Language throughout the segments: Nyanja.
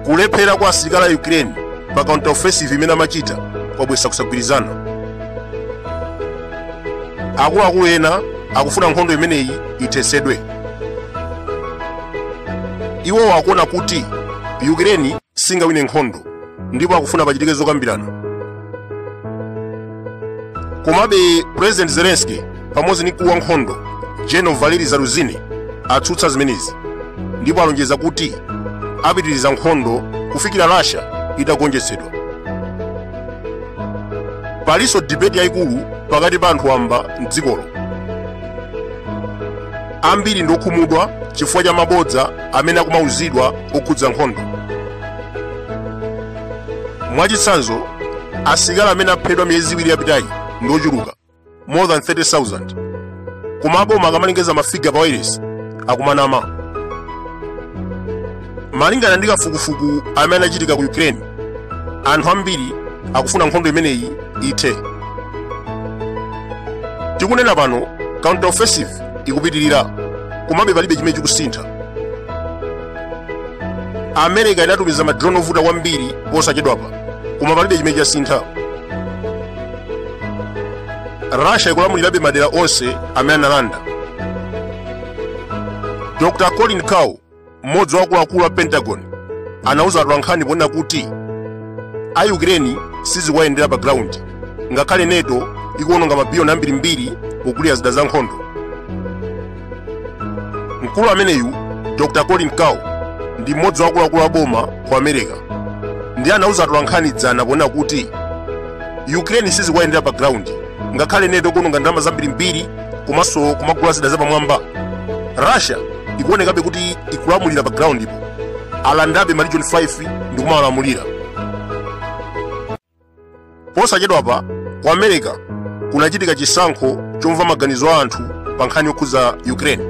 kulephera kwa asilikali a ukraine pa counter offensive imene amachita kwabwesa kusagwirizana akuluakulu ena akufuna nkhondo imeneyi ithesedwe iwowo akuona kuti ukraine singawine nkhondo ndipo akufuna pachitike zokambirana komabe president zelensky pamodzi ndi mkulu wa nkhondo general valery zaluzhnyi atsutsa zimenezi ndipo alonjeza kuti apitiriza nkhondo kufikira russia itagonjetsedwa palinso debate yayikulu pakati pa anthu wamba mdzikolo ambiri ndi okhumudwa chifukwa cha mabodza amene akumauzidwa okhudza nkhondo mwachitsanzo asilikali amene aphedwa miyezi iwiri yapitayi ndi ochuluka more than 30000 koma aboma akamalengeza mafiga pa wailesi akumanama malingana ndi kafukufuku amene anachitika ku ukraine anthu ambiri akufuna nkhondo imeneyi ithe tikunena pano counter offensive ikupitirira komabe palibe chimene chikusintha america inatumiza madrone ovuta kwambiri posachedwapa koma palibe chimene chasintha russia ikulamulirabe madera onse amene analanda dr colin kahl mmodzi wa akuluakulu a pentagon anauza atolankhani ponena kuti a ukraine sizikuwayendera pa ground ngakhale nato ikuwononga mabiliyoni ambirimbiri kugulira zida za nkhondo mkulu ameneyu dr colin kahl ndi mmodzi wa akuluakulu a boma ku america ndi anauza atolankhani dzana ponena kuti ukraine sizikuwayendera pa ground ngakhale nato ikuwononga ndalama zambirimbiri komanso kumagula zida zapamwamba russia ikuonekabe kuti ikulamulira pa groundpo alandabe maregion 5 ndi kumawalamulira posachedwapa ku america kunachitika chisankho chomva maganizo a anthu pa nkhani yokhudza ukraine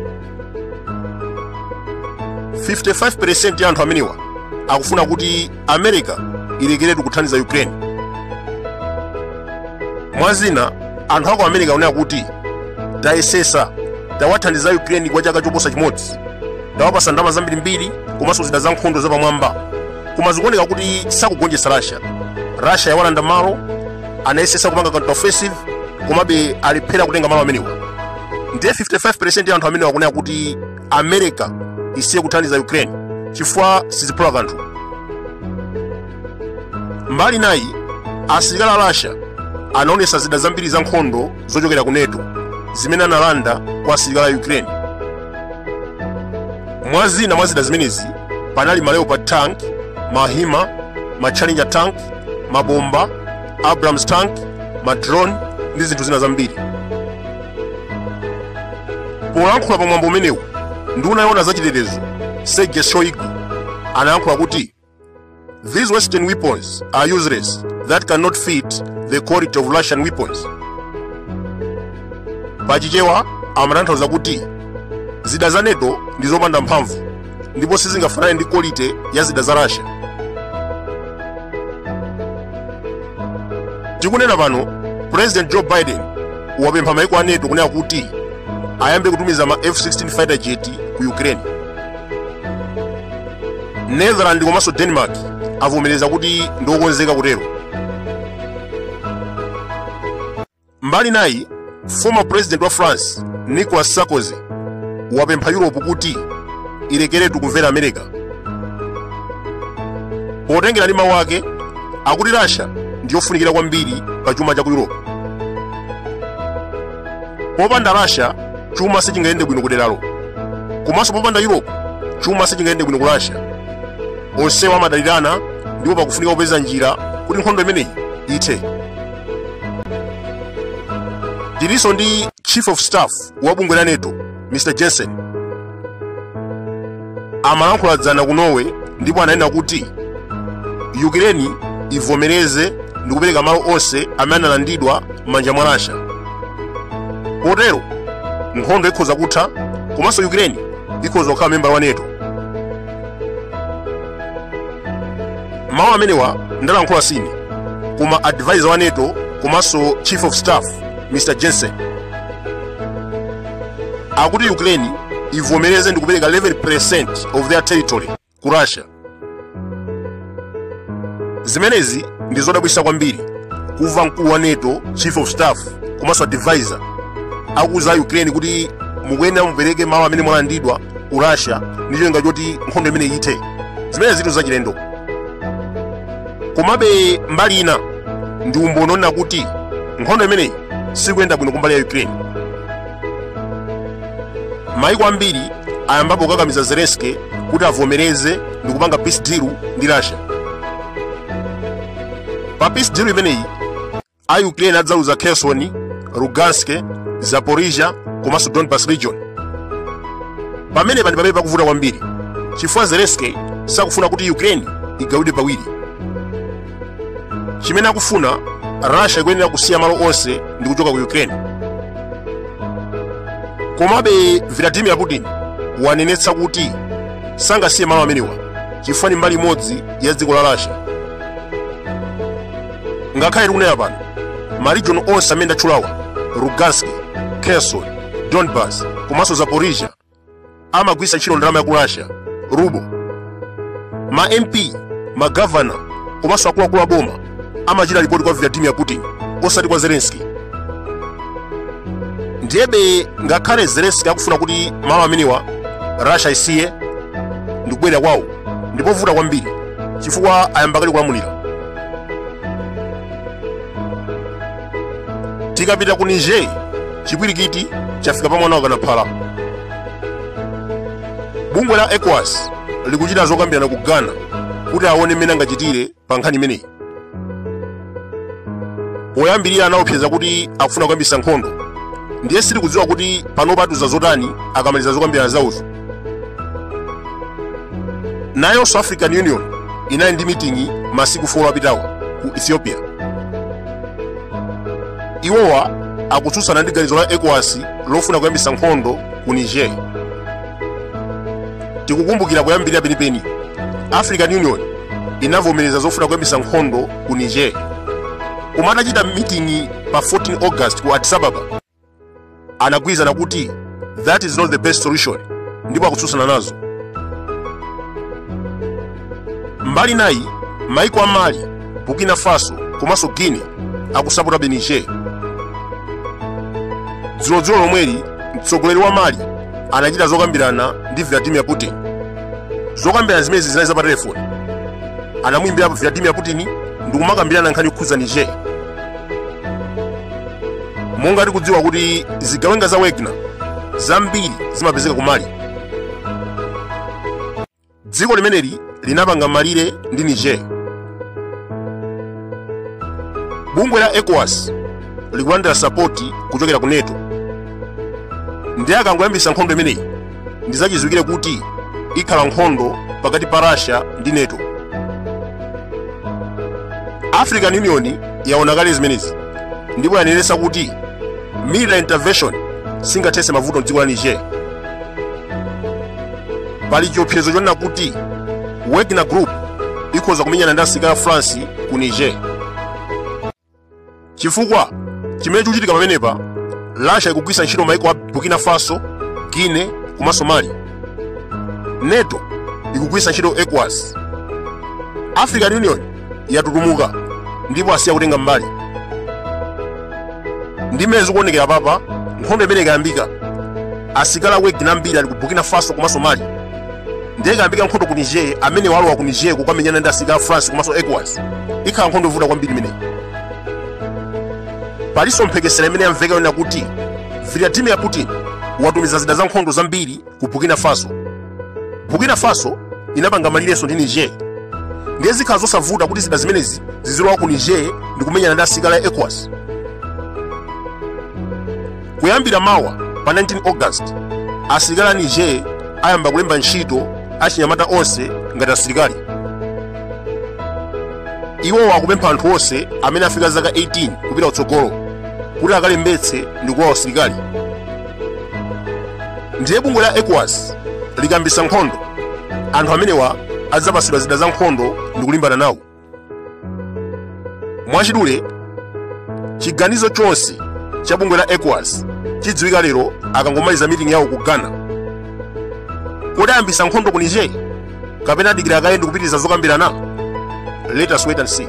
55 ya anthu amenewa akufuna kuti america ilekeretu kuthandiza ukraine mwa zina anthu aku america akunena kuti tayesesa tawathandiza ukraine kwa chaka choposa chimodzi tawapasa ndalama zambirimbiri komanso zida za nkhondo zapamwamba koma zikuoneka kuti sakugonjetsa russia russia yawalanda malo anayesesa kupanga counter offensive komabe alephera kutenga malo amenewa ndiye 55 ya anthu amenewa akunena kuti america isiye kuthandiza ukraine chifukwa siziphula kanthu mbali nayi asilikali a russia anaonesa zida zambiri za nkhondo zochokera ku nato zimene analanda kwa asilikali a ukraine mwa zina mwa zida zimenezi panali ma leopard tank ma himars ma challenger tank mabomba abrams tank ma drone ndi zinthu zina zambiri polankhula pa mwambo umenewu nduna yoona za chitetezo sergei shoigu anayankhula kuti these western weapons are useless that cannot fit the quality of russian weapons pachichewa amatanthauza kuti zida za nato ndi zopanda mphamvu ndipo sizingafanane ndi quality ya zida za russia tikunena pano president joe biden wapempha maiko a nato kunena kuti ayambe kutumiza ma f-16 fighter jet ku ukraine netherland komanso denmark avomereza kuti ndiokonzeka kutero mbali nayi former president wa france nicolas sarkozy wapempha europe kuti ilekeretu kumvera america potengera ndi mawu ake akuti russia ndiyofunikira kwambiri pa chuma cha ku europe popanda russia chuma sichingayende bwino kuderalo komanso popanda europe chuma sichingayende bwino ku russia onsewa amadalirana ndipo pakufunika kupeza njira kuti nkhondo imeneyi ithe tilinso ndi chief of staff wa bungwe la nato mr jensen amalankhula dzana ku norway ndipo ananena kuti ukraine ivomereze ndi kupereka malo onse amene analandidwa m'manja mwa russia potero nkhondo ikhoza kutha komanso ukraine ikhoza kukhala membala wa nato mawu amenewa ndalankhula sine koma advisor wa nato komanso chief of staff mr jensen akuti ukraine ivomereze ndi kupereka 11% of their territory ku russia zimenezi ndi zodabwitsa kwambiri kumva mkulu wa nato chief of staff komanso advisor akuuza ukraine kuti mukuyenera mupereke malo amene mwalandidwa ku russia ndi cholinga choti nkhondo imeneyi ithe zimenezi zinthu zachilendo komabe mbali ina ndi umboni onena kuti nkhondo imeneyi sikuyenda bwino kumbali ya ukraine maiko ambiri ayambapo kukakamiza zelensky kuti avomereze ndi kupanga peace deal ndi russia pa peace deal imeneyi a ukraine adzaluza kherson lugansk zaporizhia komanso donbas region pamenepa ndi pamene pakuvuta kwambiri chifukwa zelensky sakufuna kuti ukraine igawidwe pawiri chimene akufuna russia ikuyenera kusiya malo onse ndi kuchoka ku ukraine komabe vladimir putin wanenetsa kuti sangasiye malo amenewa chifukwa ndi mbali imodzi ya dziko la russia ngakhale tikunena pano marijoni onse amene ndatchulawa lugansk kherson donbas komanso zaporizhia amagwiritsa ntchito ndalama ya ku russia rubo ma mp magavana komanso akuluakulu a boma amachita ripoti kwa vladimir putin osati kwa zelenski ndiyebe ngakhale zelenski akufuna kuti malo amenewa russia isiye ndikubwerera kwawo ndipovuta kwambiri chifukwa ayamba kale kulamulira tikapita ku niger chipwirikiti chafika pa mwana wakana phala bungwe la ecowas likuchita zokambirana ku ghana kuti aone mmene angachitire pa nkhani imeneyi poyambirira anaopseza kuti akufuna kuyambisa nkhondo ndiye sitikudziwa kuti panopa atiuza zotani akamaliza zokambirana zawozo nayonso african union inali ndi miting'i masiku 4 apitawa ku ethiopia iwowa akutsutsana ndi ganizo la ecowas lofuna kuyambisa nkhondo ku niger tikukumbukira poyambirira penipeni african union inavomereza zofuna kuyambisa nkhondo ku niger koma atachita miting'i pa 14 august ku addis ababa anagwirizana kuti that is not the best solution ndipo akutsutsana nazo mbali inayi maiko a mali burkina faso komanso guinea akusapotabe niger dzulodzulo lomweli mtsogoleri wa mali anachita zokambirana ndi vladimir putin zokambirana zimenezi zinali za pa telefoni anamuyimbirapo vladimir putin ndikumakambirana nkhani yokhudza niger monga tikudziwa kuti zigawenga za wagner zambiri zimapezeka ku mali dziko limeneli linapanga malire ndi niger bungwe la ecowas likulandira sapoti kuchokera ku neto ndiye akangoyambisa nkhondo imeneyi ndi zachidziwikire kuti ikhala nkhondo pakati pa russia ndi nato african union yaona kale zimenezi ndipo yanenetsa kuti military intervention singathetse mavuto mdziko la niger pali chiopsezo chonena kuti wagner group ikhoza kumenyana ndi asilikali a france ku niger chifukwa chimene chikuchitika pamenepa russia ikugwiritsa ntchito maiko a burkina faso guinea komanso mali nato ikugwiritsa ntchito ecowas african union yatutumuka ndipo asiya kutenga mbali ndi mmene zikuonekera papa nkhondo imeneyi ikayambika asilikali a wagner ambiri ali ku burkina faso komanso mali ndiye ikayambika nkhondo ku niger amene alowa ku niger kukamenyana ndi asirikali a france komanso ecowas ikhala nkhondo yovuta kwambiri imeneyi palinso mphekesera imene yamveka yonena kuti vladimir putin watumiza zida za nkhondo zambiri ku burkina faso burkina faso inapanga malirenso ndi niger ndiye zikhala zosavuta kuti zida zimenezi zizilowa ku niger ndi kumenyana ndi asirikali a ecowas kuyambira mawa pa 19 august asilikali a niger ayamba kulemba ntchito achinyamata onse ngati asilikali iwowa akupempha anthu onse amene afika zaka 18 kupita kutsogolo kuti akalembetse ndi kulowa usilikali ndiye bungwe la ecowas likayambitsa nkhondo anthu amenewa adzapatsidwa zida za nkhondo ndi kulimbana nawo mwachidule chiganizo chonse cha bungwe la ecowas chidziwika lero akangomaliza meeting yawo ku ghana kodi ayambitsa nkhondo ku niger kapena adikira kaye ndi kupitiriza zokambirana let us wait and see